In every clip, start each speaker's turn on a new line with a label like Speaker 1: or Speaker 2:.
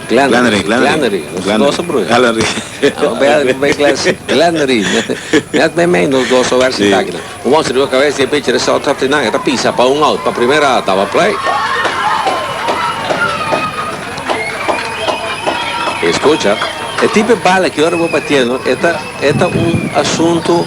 Speaker 1: Glannery, Glannery, nos gozo broer. Glannery. Glannery. Net me me nos gozo ver si takina. Un once riba cabeza die pitcher is out trap tinan. Eta pisa pa un out pa primera out daba play. Escucha. E tipo de bala que ora bo batiendo eta eta un asunto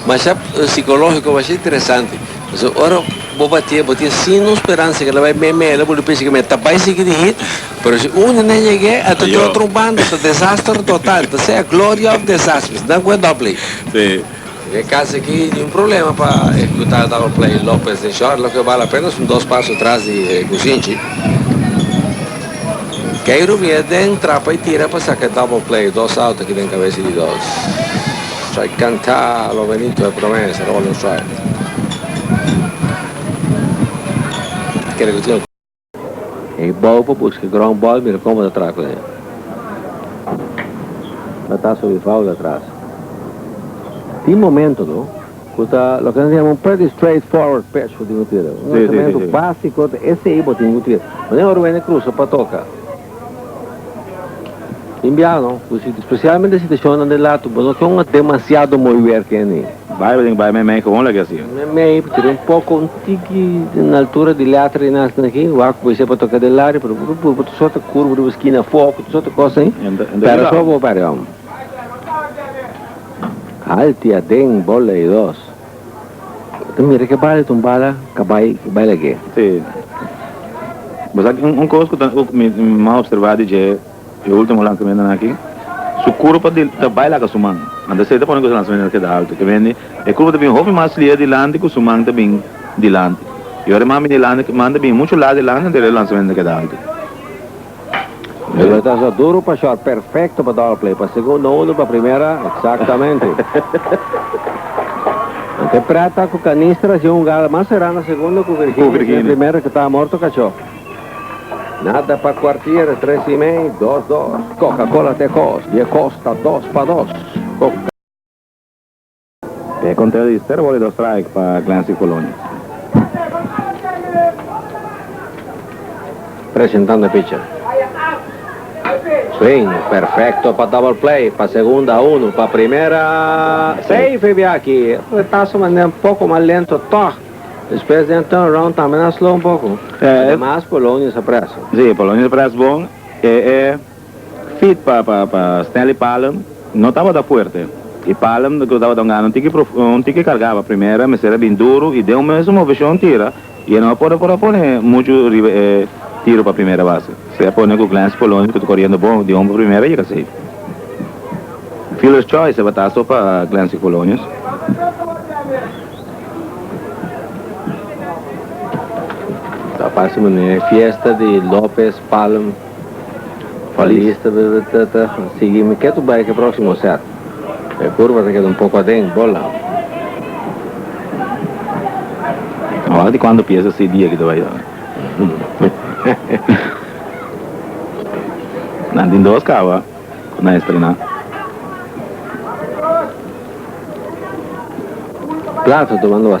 Speaker 1: masha psicológico masha interesante. P'esei ora bo batí e bo tin sino speransa ke lo bai mei mei lo bo lo piensa ke mei ta bai sigui di hit pero si un di nan yeg'é a ta di otro banda ta desaster total ta sea gloria of desasters nan ku e dòp lei. Sí.
Speaker 2: Den e kas aki
Speaker 1: tin un problema pa e ku ta dal play Lopez den short lo ke bal apenas un dos paso tras di e kusinchi Keiro mira den trapa i tira pa saka e double play dos out aki den kabes di dos strike kanta lo Benito e promesa lo bal un strike. E bou pa buska e ground ball mira como ta traha cu e ta ta so Rivaldo atras tin momento no cu ta loke nan ta yama un pretty straight forward pitch cu tin cu tira un lanzamento basico ta esey bo tin cu tira manera ora wende crusa pa toca. Inbiano, cu si, specialmente si ta shona den lato, bo no con demasiado mooi weer keni. Bai, bo tin cu bai meimei
Speaker 2: con hola kiasi. Meimei, bo tin un
Speaker 1: poco, un tiki na altura di letra di nasin aki, wak bo isey pa toca den laria, pero bo ta purba tur sort di curva riba esquina afo, cu tur sort di cos ey, pera so bo, pera yo. Alti aden, bola y dos. Bo ta mira ke bala e tumbala kabai i bai lag'é. Sí.
Speaker 2: Bo sa ki un kos ku ta ouk mi mi a observá di dje e último lanzamentonan aki? Su kurpa di ta bai laga su man. Anta Sey ta pone ku su lanzamentonan keda altu ke mende e kurpa ta bin hopi mas lia dilanti ku su man ta bin dilanti. I ora e man bin dilanti man ta bin muchu laga dilanti anto e lanzamentonan ta keda altu.
Speaker 1: Esta ta so duro pa short, perfecto pa double play, pa segundo uno, pa primera, exactamente. Nan te pret ta cu Canister haci un jugada mas será na segundo cu Virginia haci na primera cu ta morto cacho. Nada pa cuartier, tres y mei, dos dos. Coca-Cola te cos, di e cos ta dos pa dos.
Speaker 2: Te kontra di Ster boli dos strike pa Glancy Coloni.
Speaker 1: Presentando e pitcher. Swing perfecto pa double play, pa segunda uno, pa primera safe e bia aki. Retazo manda e un poco mas lento tog. Despues den turn round tambe nan slow un poco. Ademas Polonius a press. Si, Polonius a press
Speaker 2: bon. E e. Feet pa pa Stanley Palem no tabata fuerte y Palem lo ke tabata un gana un tiki profundo un tiki cargaba primera mester a bin duro y den un mes su movecion tira y e no a por por a pone mucho riba e tiro pa primera base si a pone cu Glenn Spoloni cu ta coriendo bon di homber pa primera a yega safe fielders choice a tabata so pa Glenn Spolonius.
Speaker 1: Feliz ta ta sigui mi ke tu bai ke proximo set e curva ta keda un poco aden bola
Speaker 2: Ora di cuando pieza si dia ki ta bai Nan tin dos caba cu nan estrena
Speaker 1: Plato ta manda.